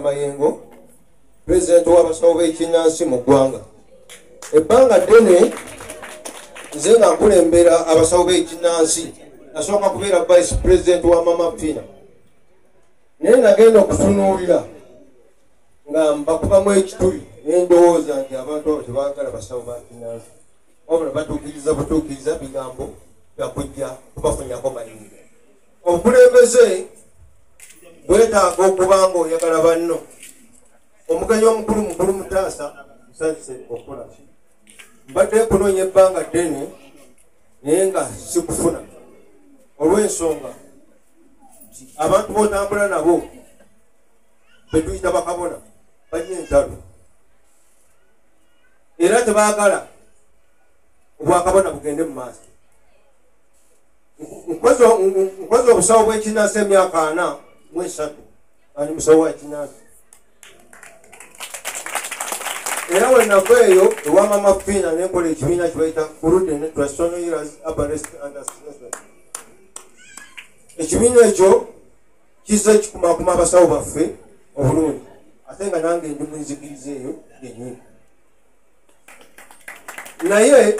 mayengo pulezidenti w'abasawo b'ekinnansi mu ggwanga ebbanga ddene nze nga nkulembera abasawo b'ekinnansi nasooka kubeera vice pulezidenti wa mama fina naye nagenda okutunuulira nga mbakubamu ekituli nendowooza nti abantu abo tebagala basawo ba kinnansi wabula batuukiriza butuukiriza bigambo byakujja kubafunyako mayinga obukulembeze bwetaaga okuba nga oyagala banno omugenyi omukulu mukulu mutaasa musanyuse okula mbadde kunoonya ebbanga ddene naye nga sikufuna olw'ensonga nti abantu botambula nabo betuyita bakabona balina entalo era tebaagala obwakabona bugende mu maaso nkoze obusawo bwekinansi emyaka ana mwesatu ali musawo wakinansi era wenava eyo ewamama fiina nenkola ekibiina kibaita kurude ne trasonoiras abarest understanding ekibiina ekyo kizze kikumakuma abasawo baffe obulungi ate nga nange ndi munzikiriza eyo yenyini naye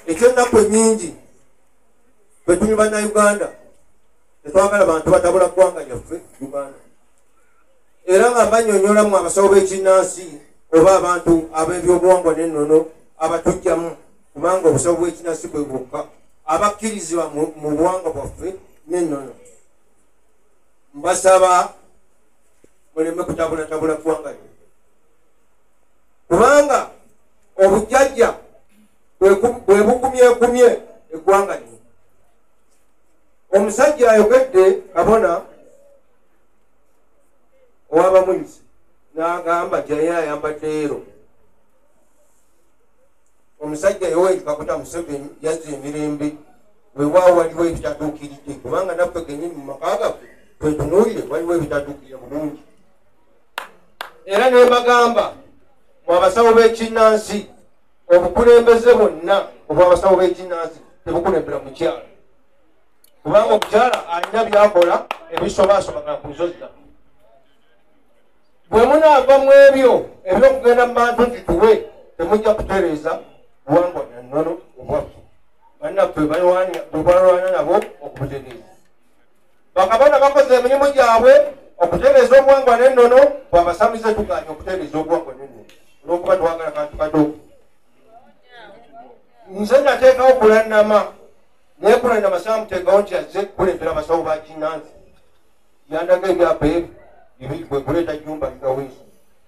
ekyennaku enyingi bwetuli bannayuganda tetwagala bantu batabula ggwanga lyaffe uganda era nga banyonyolamu abasawo b'ekinnansi oba abantu ab'ebyobuwangwa n'ennono abatujjamu kubanga obusawo bw'ekinnansi bwe bwokka abakkirizibwa mu buwangwa bwaffe n'ennono mbasaba muleme kutabulatabula ggwanga lyo kubanga obujjajja bwebukumyekumye eggwanga lino omusajja ayogedde kabona owabamunyusi nagamba jaye ayambadde ero omusajja yoweri kakuta museveni yazza emirembe wewaawo waliwo ebitatuukiridde kubanga naffe genyini mu maka gaffe twetunuulire waliwo ebitatuukirire bulungi era nebagamba mu abasawo b'ekinnansi obukulembeze bwonna obwabasawo b'eginansi tebukulembera mukyalo kubanga omukyala alina byakola ebisobasobagana ku nsozi zaffe bwe munaava mu ebyo ebyokugenda mu bantu nti tuwe temujja kutereeza buwangwa nannono obwaffe bannaffe bwebalwana nabo okubutegeeza bakabona bakoze emirimu gyabwe okutereeza obuwangwa n'ennono bwabasamize tuganye okutereeza obuwangwa n'ennono olwokuba twagala kantu kato nze nateekawo kulannama naye kulannama saamuteekawo nti azze kukulembera abasawo ba kinansi yandaga ebyapa ebyo ebikuleeta jumba ligaweesi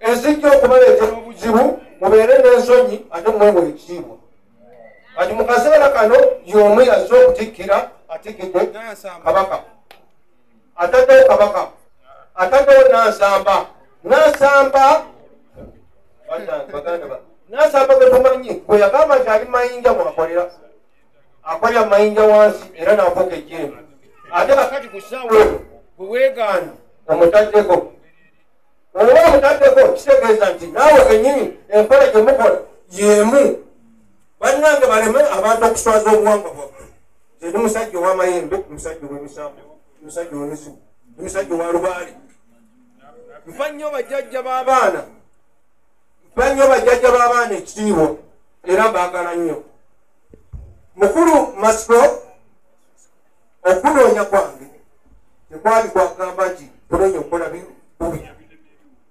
ezijja okubaleetera obuzibu mubeere n'ensonyi ate mwewa ekitiibwa kati mu kaseera kano y'omu yazze okutikkira atikkidde kabaka ataddewo kabaka ataddewo nansamba nansamba nansamba gwe tumanyi gwe yagamba nti ali mayinja mwakolera akolera mayinja wansi era nafuuka ejjembe ate kakati ku ssaawa gwe weegaana omutaddeko oba omutaddeko kitegeeza nti naawe kenyini enkola gye mukola yemu bannange baleme abantu okuswaza obuwangwa bwabwe ndi musajja owamayembe musajja owemisambo musajja owemizimu ndi musajja owa lubaale nfa nnyo bajjajja b'abaana nfa nnyo bajjajja b'abaana ekitiibwa era mbaagala nnyo mukulu masiko okunoonya kwange tekwali kwagamba nti kunoonya okukola bubi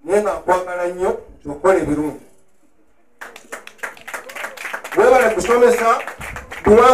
naye nga nkwagala nnyo okukola ebirungi webale kusomesa buwangu